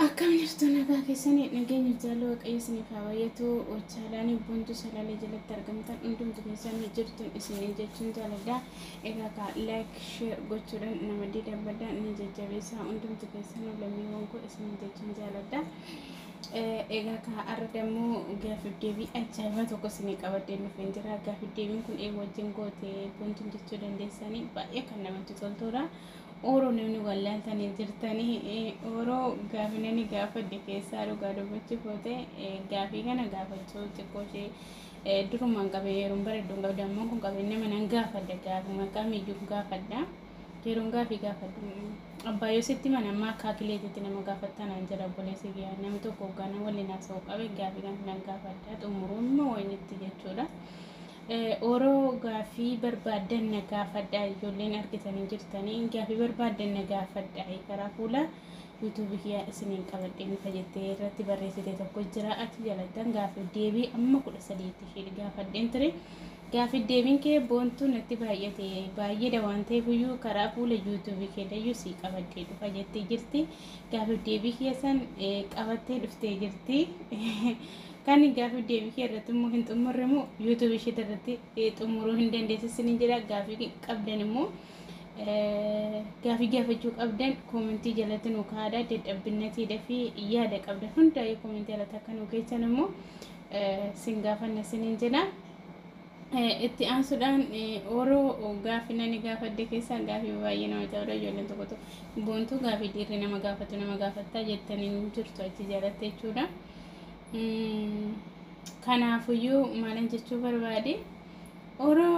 Akkam jirtu nagaa keessanii nageenya jaalala waaqayyo isiniif haa baay'atu chaalaanii buntu salaalee jalatti argamtan hundumtu keessanii jirtu isiniin jechuun jaaladha egaa kaa laayik sheer gochuudhaan nama diidabbadaa ni jajjabeessaa hundumtu keessanuu lammiiwwan koo isiniin jechuun jaaladha egaa kaa arra dammoo gaafif deebii ajaa'ibaa tokko isinii qabadhee dhufeen jira gaafif deebiin kun ee wajjin goote buntuun jechuu dandeessanii baay'ee kan namatti toltuudha. Oro namni wallaaltanii jirtanii oro gaafi nani gaafadhe keessaa dhugaa dubbachuuf yoo ta'e gaafii kana gaafachuu xiqqoo ishee durumaan qabee yeroon baradhu hin qabda ammoo kun qabee nama nan gaafadha gaafuma kamiyyuu gaafadha yeroon gaafii gaafadhu abbaa yoo sitti mana ammaa akkaa kileetitti nama gaafattaa naan jedha obboleessi kiyyaa nama tokko hoggaana waliin haasa'u qabe gaafii kana nan gaafadha xumuruun moo wayinitti jechuudha. Oro gaafii barbaaddan na gaafadhaa ijoolleen argitanii jirtanii gaafii barbaaddan na gaafadhaa karaa fuula yuutuubii kiyyaa isiniin qabadheen dhufa jettee irratti barreessite tokko jira achi jalattan gaafii deebii amma kudha sadiitti ishee gaafadheen ture gaafii deebiin kee boontuu natti baay'ate baay'eedha waan ta'eef iyyuu karaa fuula yuutuubii kee dayyuu sii qabadhee dhufa jettee jirti gaafii deebii keessan qabattee dhuftee jirti Kan gaafii deebii kee irratti immoo hin xumurre immoo YouTube ishee irratti xumuruu hin dandeessu isiniin jedha. Gaafii qabdan immoo gaafii gaafachuu qabdan koomentii jalatti nu kaa'adha. Dadhabbinatiidha fi yaada qabdan hundaa'ee koomentii jalatti akka nu geessan immoo sin gaafanna isiniin jedha. Itti aansuudhaan Oro gaafi nani gaafadde keessaa gaafi baay'ee nama cabudha ijoolleen tokko tokko boontuu gaafi dhiirri nama gaafatu nama gaafattaa jettan hin jirtu achi jalatte jechuudha. Kanaafuyyuu maalan jechuu barbaade Oro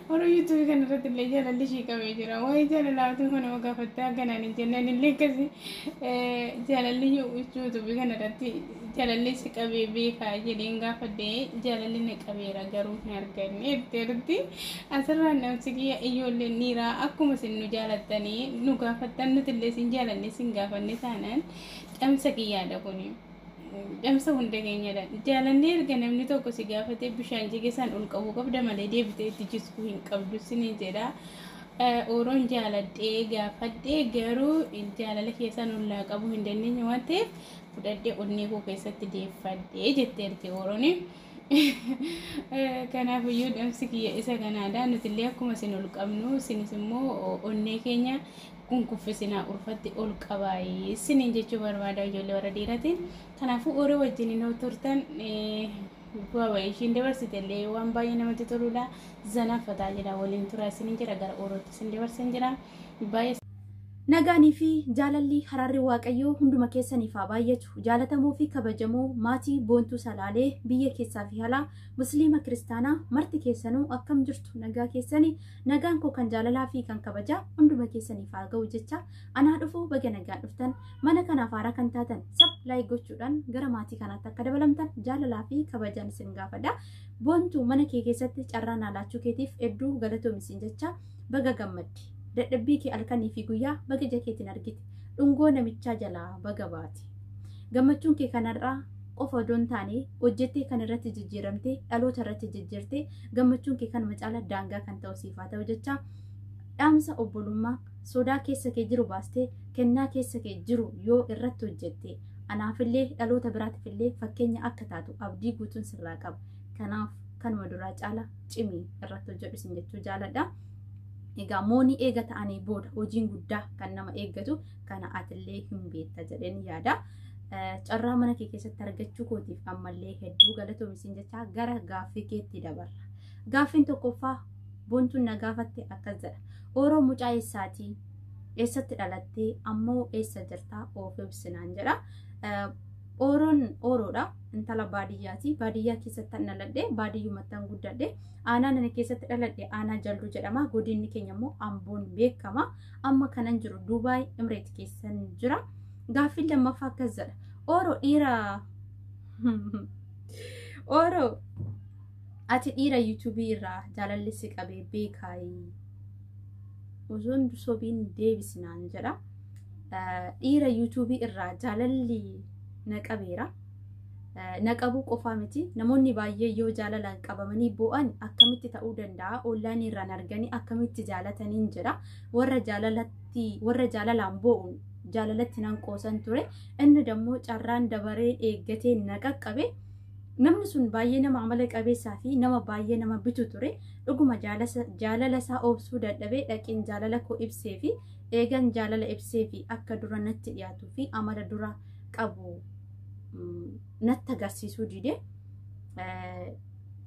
Warra YouTube kana irratti illee jaalalli ishii qabee jira. Waa'ee jaalalaa utuu kana ma gaafattee akkanaan hin jenne ani illee akkasi jaalalli YouTube kana irratti jaalalli si qabee beekaa jedheen gaafadhe jaalalli na qabeera garuu hin arganne jettee jirti. Asirraan dhamsi kiyya ijoolleen dhiiraa akkuma isin nu jaalattanii nu gaafattan nuti illee isin jaalanne isin gaafanne taanaan dhamsa kiyyaadha kuni. Dhamsa hunda keenyadha. Jaalannee erga namni tokko si gaafatee bishaan jige san ol qabuu qabda malee deebitee itti jisguu hin qabdu siniin jedha. Ooroon jaaladhee gaafadhee garuu jaalala keessaan ollaa qabuu hin dandeenye waan ta'eef fudhadhee onnee koo keessatti deeffadhee jette erge ooroon. Kanaafiyyuu dhamsi kiyya isa kanaadha. Nutillee akkuma isin ol qabnu isinis immoo onnee keenya hin kuffisinaa urfatti ol qabaa isiniin jechuu barbaada ijoollee warra dhiiratiin kanaafuu horii wajjin yoo turtan bu'aa ba'ii ishiin dabarsite illee waan baay'ee namatti toludha zanaa fataa jedha waliin turaa isiniin jedha gara orootti isin dabarsan jira baay'ee Nagaanii fi jaalalli haraarri waaqayyoo hunduma keessaniif haa baay'atu. Jaalatamoo fi kabajamoo maatii boontuu salaalee biyya keessaa fi alaa musliima kiristaanaa marti keessanuu akkam jirtu nagaa keessanii Nagaan koo kan jaalalaa fi kan kabajaa hunduma keessaniif haa ga'u jecha anaa dhufuu baga nagaan dhuftan mana kanaaf haaraa kan taatan sab laayik gochuudhaan gara maatii kanaatti akka dabalamtan jaalalaa fi kabajaan isin gaafadha. Boontu mana kee keessatti carraa naa laachuu keetiif hedduu galatoomi siin jecha baga gammaddi. Dadhabbii kee halkanii fi guyyaa baga ija keetiin argite. Dhungoo namichaa jalaa baga baate. Gammachuun kee kanarraa qofa odoo hin taane hojjettee kan irratti jijjiiramtee dhaloota irratti jijjiirtee gammachuun kee kanuma caala daangaa kan ta'u siif haa ta'u jecha dhaamsa obbolummaa sodaa keessa kee jiru baastee kennaa keessa kee jiru yoo irratti hojjette anaafillee dhaloota biraatiifillee fakkeenya akka taatu abdii guutuun sirraa qaba kanaaf kanuma duraa caala cimii irratti hojjedhu isin jechuu jaaladha. Egaa moonii eega ta'anii booda hojiin guddaa kan nama eeggatu kana atillee hin beekta jedheen yaada. Carraa mana kee keessatti argachuu kootiif ammallee hedduu galatoomi siin jechaa gara gaaffii keetti dabarra. Gaaffiin tokkoffaa bontuun na gaafatte akkas jedha. Ooroo mucaa eessaatii eessatti dhalattee ammoo eessa jirtaa of ibsinaan jedha. Ooroon ooroodha. Intala baadiyyaati. Baadiyyaa keessatti an dhaladhe baadiyyumatti an guddadhe. Aanaan ani keessatti dhaladhe aanaa jalduu jedhama. Godinni keenya immoo amboon beekama. Amma kanan jiru Duubaay Imreet keessan jira. Gaaffiin lammaffaa akkas jedha. Ooroo dhiira Ooroo ati dhiira yuutuubii irraa jaalalli si qabee beekaayii. Osoon sobiin deebisinaan jedha. Dhiira yuutuubii irraa jaalalli na qabeera. na qabuu qofaa miti namoonni baay'ee yoo jaalalaan qabamanii boo'an akkamitti ta'uu danda'a ollaanii irraan arganii akkamitti jaalataniin jedha warra jaalalatti warra jaalalaan boo'u jaalalatti nan qoosan ture inni dammoo carraan dabaree eeggatee na qaqqabe namni sun baay'ee nama amala qabeessaa fi nama baay'ee nama bitu ture dhuguma jaalala isaa obsuu dadhabee dhaqeen jaalala koo ibsee fi eegan jaalala ibsee fi akka dura natti dhiyaatuu fi amala dura qabu natti agarsiisuu dide.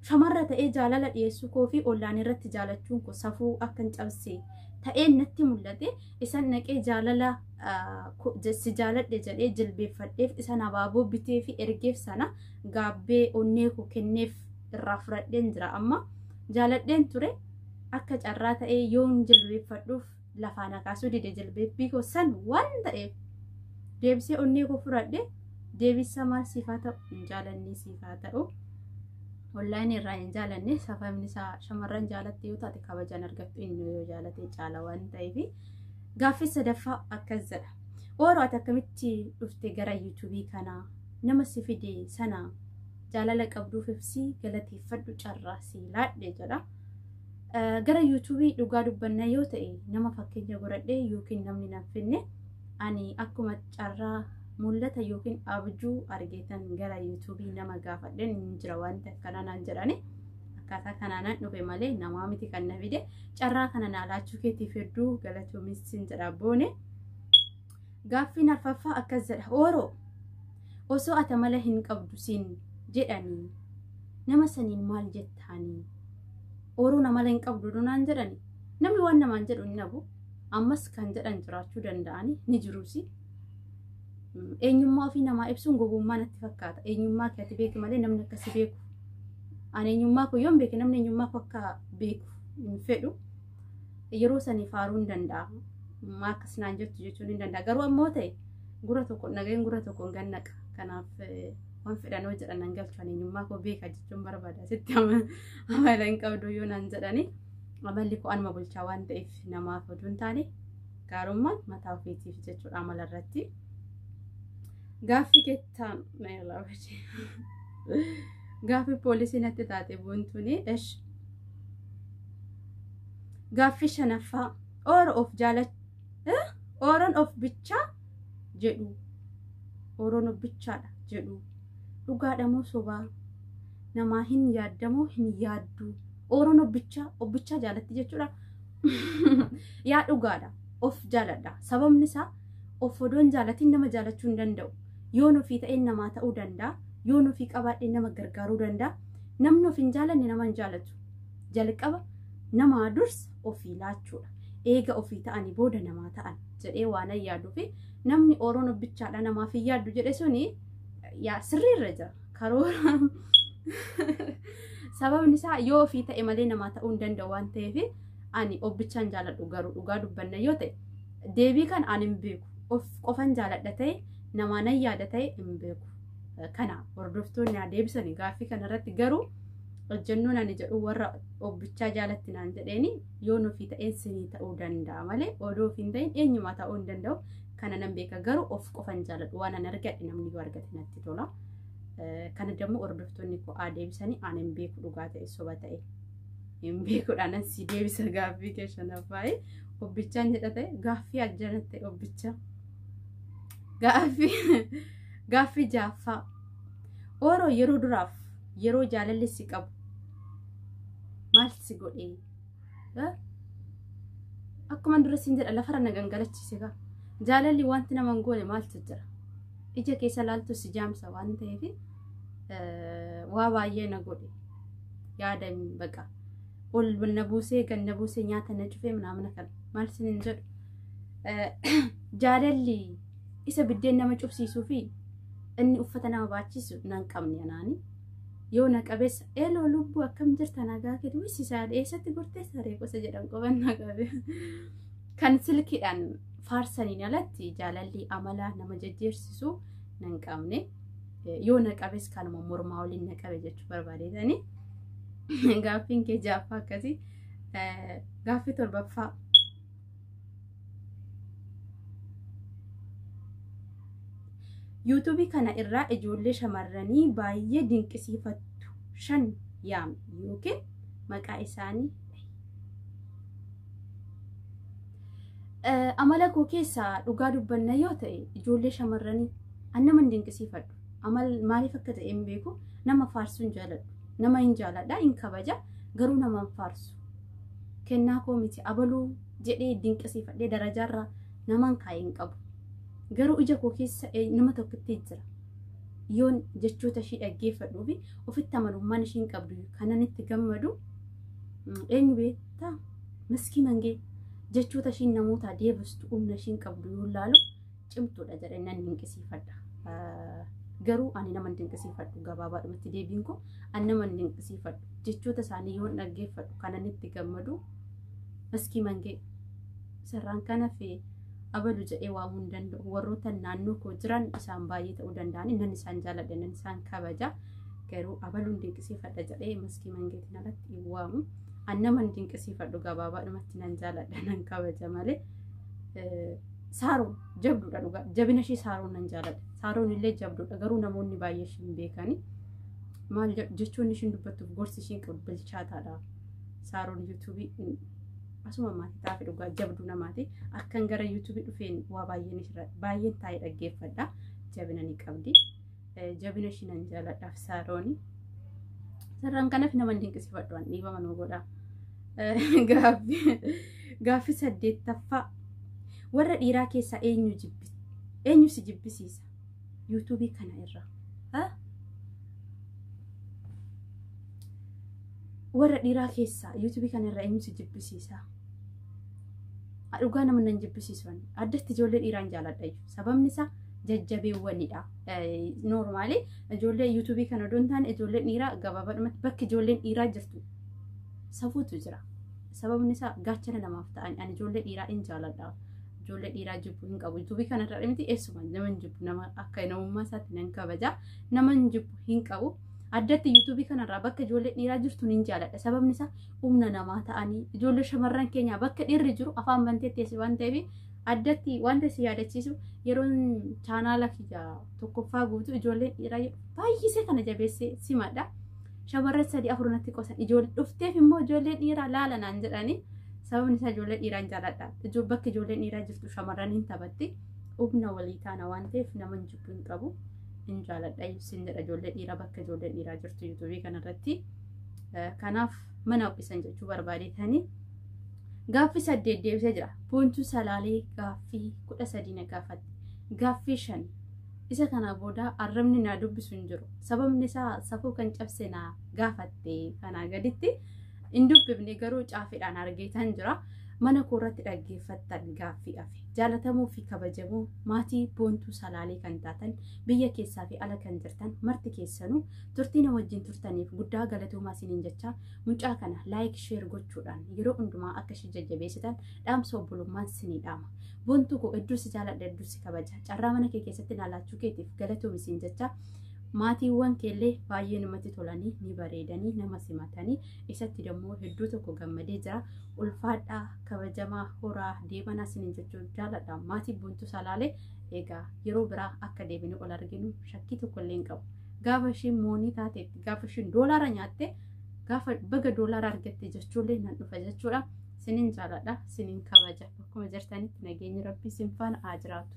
Shamarra ta'ee jaalala dhiyeessuu koo fi ollaan irratti jaalachuun koo safuu akka hin cabse ta'ee natti mul'ate isan naqee jaalala si jaaladhe jedhee jilbeeffadheef isan abaaboo bitee fi ergeef sana gaabbee onnee koo kenneef irraa fudhadheen jira amma jaaladheen ture akka carraa ta'ee yoon jilbeeffadhuuf lafaa na kaasuu dide jilbeebbii koo san waan ta'eef deebisee onnee koo fudhadhe deebisa maal siif haa ta'u hin jaalannee siif haa ta'u onlaayinii irraa hin jaalanne sababni isaa shamarran jaalatte yoo taate kabajaan argattu inni yoo jaalate caala waan ta'eef gaaffii sadaffaa akkas jedha ooroo ati akkamitti dhufte gara yuutuubii kanaa nama si fide sana jaalala qabduuf ibsii galateeffadhu carraa sii laadhe jedha. Gara yuutuubii dhugaa dubbanna yoo ta'e nama fakkeenya godhadhee yookiin namni nan finne ani akkuma carraa mul'ata yookiin abjuu argeetan gara yuutuubii nama gaafadheen hin jira wanti akkanaa naan jedhani akkaataa kanaanan dhufe malee namaa miti kan na fide carraa kana naa laachuu keetiif hedduu galatoomis sin jedha boone. Gaaffiin arfaffaa akkas jedha. Ooroo osoo ati amala hin qabdu siin jedhanii nama saniin maal jettaanii? Ooroon amala hin qabdu dunaan jedhani. Namni waan namaan jedhu hin dhabu. Ammas kan jedhan jiraachuu danda'anii ni jiruusi. Eenyummaa ofii namaa ibsuun gowwummaa natti fakkaata. Eenyummaa kee ati beeki malee namni akkasi beeku. Ani eenyummaa koo yoon beeke namni eenyummaa koo akka beeku hin fedhu. yeroo sanii faaruu hin danda'a. Maa akkas naan jettu jechuun hin danda'a. Garuu ammoo ta'e gura tokko nageen gura tokko hin gannaqa. Kanaaf waan fedhanoo jedhan nan galchan eenyummaa koo beeka jechuun barbaada. Sitti amala hin qabdu yoo naan jedhani amalli koo anuma bulchaa waan ta'eef namaaf oduu hin taane gaarummaan mataa ofiitiif jechuudha amala irratti. Gaaffii kettaan gaaffii poolisii natti taate buuntuuni esh Gaaffii shanaffaa oora of jaalachuu ooran of bichaa jedhu ooran of bichaadha jedhu dhugaadha moo sobaa namaa hin yaaddamoo hin yaaddu ooran of bichaa of bichaa jaalatti jechuudha yaa dhugaadha of jaaladha sababni isaa of odoon jaalatiin nama jaalachuu hin danda'u yoon ofii ta'ee namaa ta'uu danda'a yoon ofii qabaadhee nama gargaaruu danda'a namni of hin jaalanne nama hin jaalatu jalqaba namaa dursa ofii laachuudha. Eega ofii ta'anii booda namaa ta'an jedhee waan yaaduu fi namni Oroon obbichaadha namaaf hin yaaddu jedhe suni yaa sirriirra jira. Karoora sababni isaa yoo ofii ta'e malee namaa ta'uu hin danda'u waan ta'eef ani obbichaan jaaladhu garuu dhugaa dubbanna yoo ta'e deebii kan ani hin beeku of qofan jaaladha ta'e namaa nan yaada ta'e hin beeku. Kana hordoftoonni haa deebisanii gaaffii kanarratti garuu hojjennuun ani jedhu warra obbichaa jaalatti naan jedheeni yoo nufi ta'een sinii ta'uu danda'a malee odoo ofiin ta'een eenyumaa ta'uu hin danda'u kana nan beeka garuu of qofan jaaladhu waan an argadhe namni yoo argate natti tola kana dammoo hordoftoonni koo aa deebisanii aan hin beeku dhugaa ta'e soba ta'e hin beekudhaan an si deebisa gaaffii kee shanaffaa'e obbichaan jedha ta'e gaaffii ajjanatte obbicha gaaffii gaaffii jaaffaa Ooroo yeroo duraaf yeroo jaalalli si qabu maal si godhe? Eh? Akkuma dura siin jedha lafarra na gangalachiise gaa. Jaalalli wanti nama hin goone maaltu jira? Ija keessa laaltu si jaamsa waan ta'eef eh, waa baay'ee na godhe. Yaada hin- baqa. Ol na buusee gad na buusee nyaata na cufee naamna kana maal siin hin jedhu? Eh, Jaalalli isa biddeen nama cufsiisuu fi Inni uffata nama baachisu nan qabne anaani. Yoo na qabeessa eeloo lubbuu akkam jirta nagaa keetu wissisaa eessatti gortee saree gosa jedhan qoban na qabe. Kan silkiidhaan faarsaniin alatti jaalalli amalaa nama jajjeersisu nan qabne. Yoo na qabes kanuma mormaa waliin na qabe jechuu barbaadeetani. Gaaffiin kee jaaffaa akkasii gaaffii torbaffaa. yuutuubii kana irraa ijoollee shamarranii baay'ee dinqisiifattu shan yaami yookiin maqaa isaanii amala koo keessaa dhugaa dubbanna yoo ta'e ijoollee shamarranii an nama hin dinqisiifadhu amal maaliif akka ta'e hin beeku nama faarsu hin jaaladhu nama hin jaaladha hin kabaja garuu nama hin faarsu kennaa koo miti abaluu jedhee dinqisiifadhee darajaarra naman kaa'e hin qabu. Garuu ija koo keessa eh, nama tokkotti jira. Yoon jechoota ishii dhaggeeffadhuu fi ofitti amanummaan ishiin qabdu kanan itti gammadu mm, eenyu beektaa? Miskii mangee jechoota ishiin namootaa deebistu humna ishiin qabdu yoo laalu cimtuudha jedhee nan dinqisiifadha. Garuu ani nama dinqisiifadhu gabaabaadhumatti deebiin koo ani nama dinqisiifadhu jechoota isaanii yoon dhaggeeffadhu kanan itti gammadu maskii mangee sarraan kana fi abalu jedhee waamuu hin danda'u warroota naannoo koo jiran isaan baay'ee ta'uu danda'anii nan isaan jaaladha nan isaan kabaja garuu abaluun dinqisiifadha jedhee maskii mangeetiin alatti hin waamu an naman dinqisiifadhu gabaabaadhumatti nan jaaladha nan kabaja malee Saaroo jabduudha dhugaa jabina ishee saaroon nan jaaladha saaroon illee jabduudha garuu namoonni baay'ee ishee hin beekani maal jechoonni ishiin dubbattuuf gorsi ishiin qabu bilchaataadha saaroon yuutuubii asuma maatii taa'afi dhugaa jabduu namaati akkan gara yuutuubii dhufeen waa baay'een ishirra baay'een taa'ee dhaggeeffadha jabina ni qabdi. jabina ishii nan jaaladhaaf saarooni. Sarraan kanaf nama hin dinqisifadhu an dhiibama nuu godha. Gaaffi saddeettaffaa warra dhiiraa keessaa eenyu jibbisi eenyu si jibbisiisa yuutuubii kana irraa. Warra dhiiraa keessaa yuutuubii kana irraa eenyu si jibbisiisa. Dhugaa nama nan jibbisiisu addatti ijoollee dhiiraan jaaladha sababni isaa. jajjabeewwanidha. Noormaali ijoollee yuutuubii kana odoo hin taane ijoolleen dhiiraa gabaabadhumatti bakki ijoolleen dhiiraa jirtu safuutu jira. Sababni isaa gaachana namaaf ta'an ani ijoollee dhiiraa hin jaaladha. Ijoollee dhiiraa jibbu hin qabu. Yuutuubii kana irraa miti eessuma nama hin jibbu nama akka namummaa isaatti nan kabaja nama hin jibbu hin qabu. Addatti yuutuubii kanarraa bakka ijoollee dhiiraa jirtu hin jaaladha. Sababni isaa humna namaa ta'anii ijoollee shamarran keenyaa bakka dhiirri jiru afaan bantee teessi waan ta'eef Addatti wanta si yaadachiisu yeroon chaanaala kiyya tokkoffaa guutuu ijoolleen dhiiraa baay'isee kana jabeessee simadha. Shamarran sadii afur natti qosan ijoollee dhufteef immoo ijoolleen dhiiraa laala naan jedhanii sababni isaa ijoollee dhiiraan jaalladha. Bakki ijoolleen dhiiraa jirtu shamarran hin taphatti. Humna walii taana waan ta'eef nama hin jibbu hin qabu. Hin jaalladha ibsin jedha ijoollee dhiiraa bakka ijoolleen dhiiraa jirtu yuutuubii kanarratti. Kanaaf mana ho'isan jechuu barbaadetanii Gaaffii saddeet deebisee jira. Boontuu Salaalee gaaffii kudha sadii na gaafatte. Gaaffii shan. Isa kanaa booda arrabni naa dubbisu hin jiru. Sababni isaa safuu kan cabse naa gaafatte kanaa gaditti hin dubbifne garuu caafiidhaan argeetan jira. Mana koo irratti dhaggeeffattan gaaffii hafe. Jaalatamuu fi kabajamuu maatii boontuu salaalee kan taatan biyya keessaa fi ala kan jirtan marti keessanuu turtii na wajjin turtaniif guddaa galatoomaa isiniin jechaa Mucaa kana laayik sheer gochuudhaan yeroo hundumaa akka ishee jajjabeessitan dhaamsa obbolummaan sinii dhaama. Bontuu koo hedduu si jaaladha hedduu si kabaja. Carraa mana kee keessatti naalaachuu keetiif galatoomi siin jecha maatiiwwan keellee baay'ee namatti tolanii ni bareedanii nama simatanii isatti dammoo hedduu tokko gammadee jira. Ulfaadhaa kabajamaa horaa deemanaa sinin jechuun jaaladha. Maatii bontuu salaalee egaa yeroo biraa akka deebinee ol arginu shakkii tokko illee hin qabu. gaafa ishiin moonii taateetti gaafa ishiin doolaara nyaatte gaafa baga doolaara argatte jechuullee nan dhufa jechuudha sinin jaaladha sinin kabaja akkuma jirtanitti nageenyi rabbii sin faana haa jiraatu.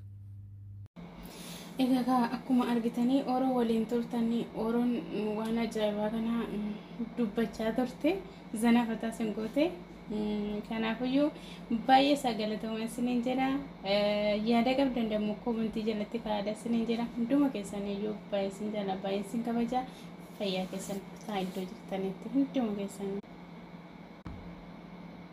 Egaa akkuma argitanii oroo waliin turtanii oroon waan ajaa'ibaa kana dubbachaa turte zana fataa sin goote Kanaafuyyuu baay'ee isaa galatoomaa isiniin jedha. Yaada qabdan dammoo koomentii jalatti kaa'adha isiniin jedha. Hunduma keessaniyyuu baay'ee isin jala baay'ee isin kabaja. Fayyaa keessan haa iddoo jirtanitti hunduma keessanii.